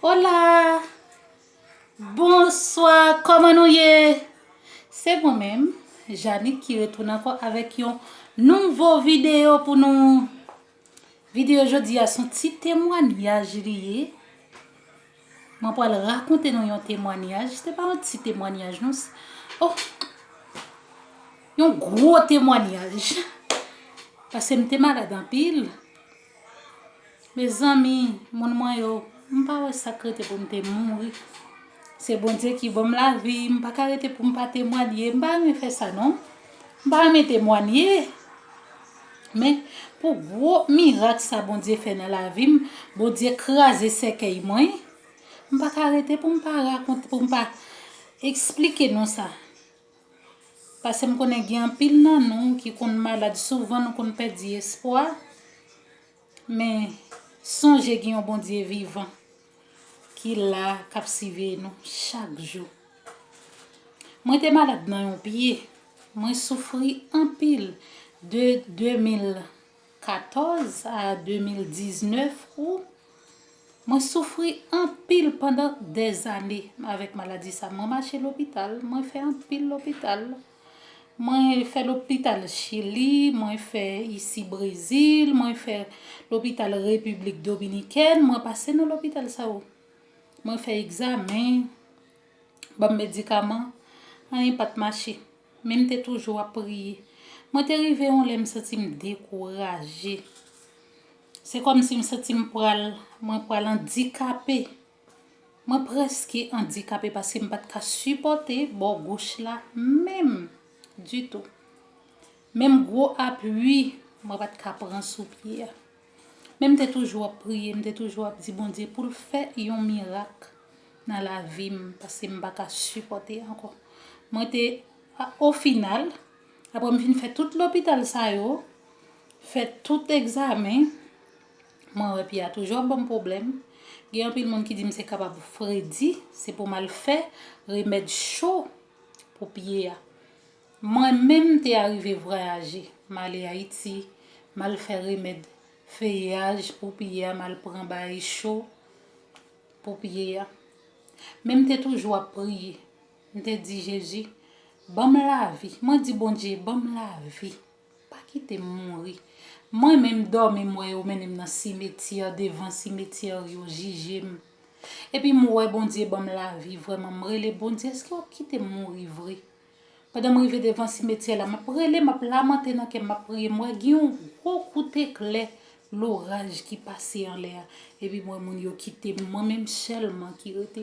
Hola Bonswa kòman nou ye Se mwen menm Janick ki retounen ankò avèk yon nouvo video pou nou Video jodi a son ti temwanyaj li ye Mwen pral rakonte nou yon temwanyaj Se pa yon ti temwanyaj non Oh Yon gwo temwanyaj Pase m te malad anpil Mezanmi moun mwen yo m pa wè sak rete pou m te mouri se Bondye ki banm lavi m pa ka rete pou m pa temwanye m pa renmen fè sa non m pa renmen temwanye men pou gwo mirak sa Bondye fè nan lavi m Bondye kraze sèkèy mwen m pa ka rete pou m pa rakonte pou m pa eksplike non sa. Pasem konnen gen anpil nan nou ki konn malad souvan nou konn pèdi espwa men sonje gen yon Bondye vivan ki la kap siveye nou chak jou mwen te malad nan yon pye mwen soufri anpil de 2000 14 a 2019 ou Mwen soufri anpil pandan dèzane avèk maladi sa. Mwen mache lopital, mwen fè anpil lopital. Mwen fè lopital Chili, mwen fè isi Brezil, mwen fè lopital Repiblik Dominikèn, mwen pase nan lopital sa yo. Mwen fè egzamen, ban m medikaman, anyen pa t mache. Men m te toujou ap priye. Mwen te rive yon lè m santi m dekouraje. Se kòmsi m santi m pral, mwen pral andikape. Mwen prèske andikape paske m pa t ka sipòte bò goch la menm ditou. Menm gwo apui mwen pa t ka pran sou pye a. Men m te toujou ap priye, m te toujou ap di Bondye pou l fè yon mirak nan lavi m paske m pa ka sipòte ankò. Mwen te, o final, aprè m fin fè tout lopital sa yo, fè tout egzamen, mwen wè pye a toujou ap ban m pwoblèm. Gen anpil moun ki di m se kapab fredi, se pou m al fè remèd cho pou pye a. Mwen menm m te arive vwayaje, m ale Ayiti, m al fè remèd feyeyaj pou pye a, m al pran baay cho pou pye a. Men m te toujou ap priye, m te di Jezi, ban m lavi, mwen di Bondye, ban m lavi, pa kite m mouri. Mwen menm dòmi m wè yo mennen m nan simetyè, devan simetyè yo jije m. Epi m wè Bondye ban m lavi vrèman, m rele Bondye, èske w ap kite m mouri vre? Pandan m rive devan simetyè la, m ap rele, m ap lamante nan kè m, m ap priye, m wè gen yon gwo kout eklè loraj ki pase anlè a, epi m wè moun yo kite m, mwen menm sèlman ki rete.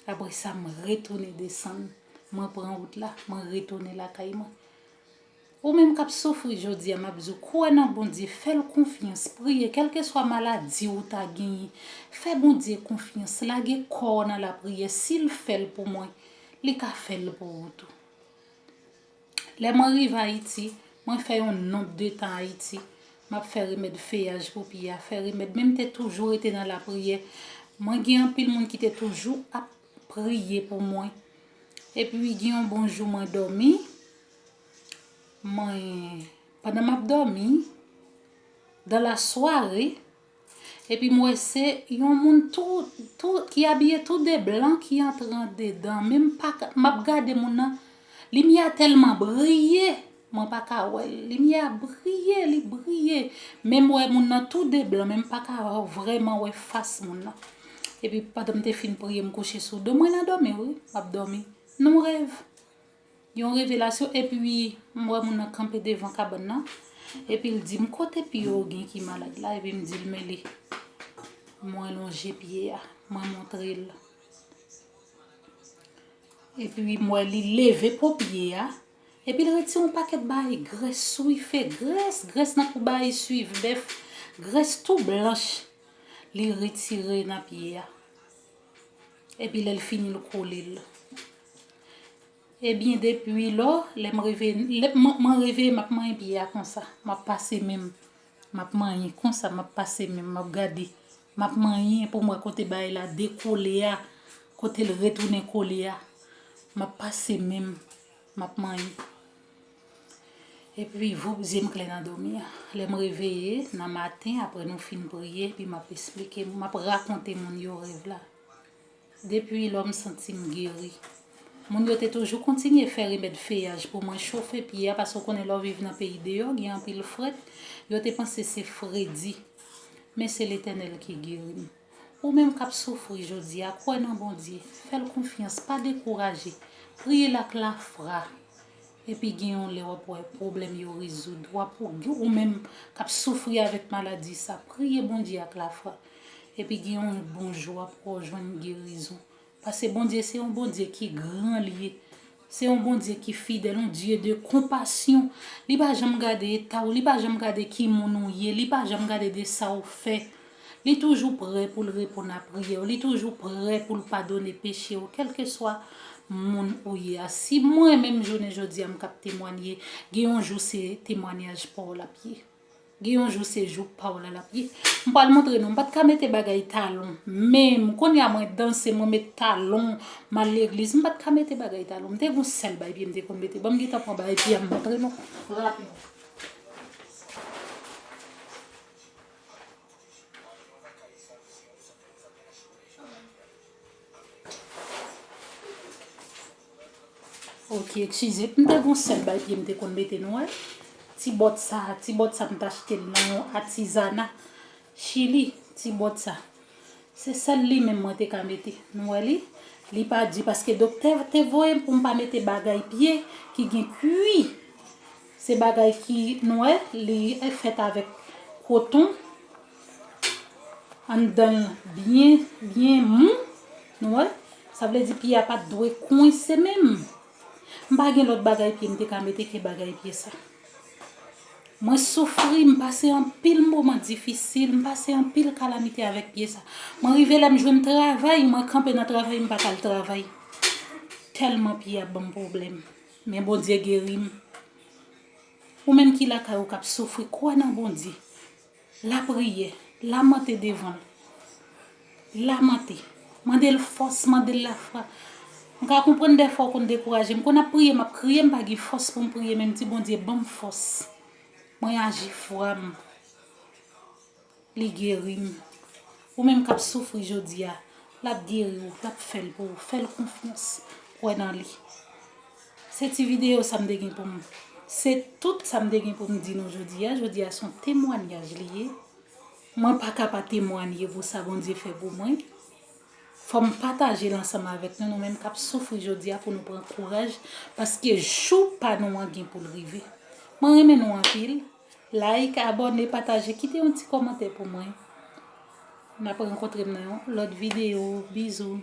Apre sa, m retounen desann, mwen pran wout la, mwen retounen lakay mwen. Ou menm kap soufri jodia map diw kwè nan Bondye fèl konfyans priye kèlkeswa maladi ou ta genyen fè Bondye konfyans lage kòw nan lapriyè sil fèl pou mwen li ka fèl pou ou tou lè mwen rive ayiti mwen fè yon nonb de tan ayiti map fè remèd feyaj pou pye a fè remèd menm te toujou rete nan lapriyè mwen gen anpil moun ki te toujou ap priye pou mwen epi gen yon bon jou mwen dòmi. Mwen, pandan m ap dòmi, dan la sware, epi m wè se yon moun tou, tou, ki abiye tou de blan ki antre andedan, men m pa ka, m ap gade moun nan, limyè a tèlman briye, mwen pa ka wè l, limyè a briye, li briye, men m wè moun nan tou de blan, men m pa ka vrèman wè fas moun nan. Epi pandan m te fin priye m kouche sou do m, mwen nan dòmi wi, m ap dòmi, nan yon rèv. Yon revelasyon epi m wè moun nan kanpe devan kabann nan epi l di m kote pye w gen ki malad la epi m di l mele mwen lonje pye a mwen montre l epi m wè li leve po pye a epi l retire yon pakèt bagay grès swife grès grès nan kou bagay swife bèf grès tou blanch li retire nan pye a. Epi lè l fini l kole l. Ebyen depi lò lè m reveye mwen reveye m ap manyen pye a konsa m ap pase men m m ap manyen konsa m ap pase men m m ap gade m ap manyen pou m wè kote bagay la dekole a kote l retounen kole a m ap pase men m m ap manyen. Epi voup zye m kle nan domi an. Lè m reveye nan maten apre nou fin priye epi m ap esplike m ap rakonte moun yo rèv la. Depi lò m santi m geri. Moun yo te toujou kontinye fè remèd feyaj pou mwen chofe pye a paske w konnen lè w viv nan peyi deyò gen anpil frèt, yo te panse se fredi. Men se Letènèl ki geri m. Ou menm kap soufri jodia kwè nan Bondye, fèl konfyans pa dekouraje, priyel ak lafra epi gen yon lè wap wè pwoblèm yo rezoud, wap ou menm kap soufri avèk maladi sa priye Bondye ak lafra epi gen yon bon jou wap wè ou jwenn gerizon Pase Bondye se yon Bondye ki gran li ye se yon Bondye ki fidèl yon Dye de konpasyon li pa janm gade eta w li pa janm gade ki moun ou ye li pa janm gade de sa w fè li toujou prè pou l reponn a priyè w li toujou prè pou l padone peche w kèlkeswa moun ou ye a si mwen menm jounen jodi a m kab temwanye gen yon jou se temwanyaj pa w l ap ye. Gen yon jou se jou paw la lap ye. M pral montre nou m pat ka mete bagay talon menm konnya mwen danse mwen met talon m al legliz m pat ka mete bagay talon m te gen yon sèl bay pye m te konn mete banm gentan pran bay pye a m montre nou rapid. Ok eskize m te gon sèl bay pye m te konn mete nou wè ti bòt sa ti bòt sa m t achte l nan yon atizana chili ti bòt sa se sèl li menm mwen te ka mete nou wè li li pa di paske doktè te voye m pou m pa mete bagay pye ki gen kwi se bagay ki nou wè li fèt avèk koton. Anndan l byen byen mou. Nou wè? Sa vle di pye a pa t dwe kwense menm. M pa gen lòt bagay pye m te ka mete ke bagay pye sa. Mwen soufri, m pase anpil moman difisil, m pase anpil kalamite avèk pye sa. Mwen rive lè m jwenn travay, mwen kanpe nan travay m pa t al travay. Tèlman pye a ban m pwoblèm. Men Bondye geri m. Ou menm ki lakay ou k ap soufri, kwè nan Bondye. Lapriyè, lamante devan l. Lamante. Mande l fòs, mande l lafwa. M ka konprann dèfwa ou konn dekouraje. M konn ap priye, m ap kriye, m pa gen fòs pou m priye men m di Bondye ban m fòs. Mwen aji fwa m. Li geri m. Ou menm k ap soufri jodi a, l ap geri ou, l ap fè l pou ou. Fè l konfyans. Kwè nan li. Se ti videyo sa m te gen pou m Se tout sa m te gen pou m di nou jodi a Jodi a se yon temwanyaj li ye Mwen pa ka pa temwanye pou sa Bondye fè pou mwen Fò m pataje l ansanm avèk nou Nou menm k ap soufri jodi a pou nou pran kouraj Paske jou pa nou an gen pou l rive Mwen renmen nou anpil Like, abòne, pataje Kite yon ti kòmantè pou mwen N ap rankontre m nan yon lòt videyo Bizou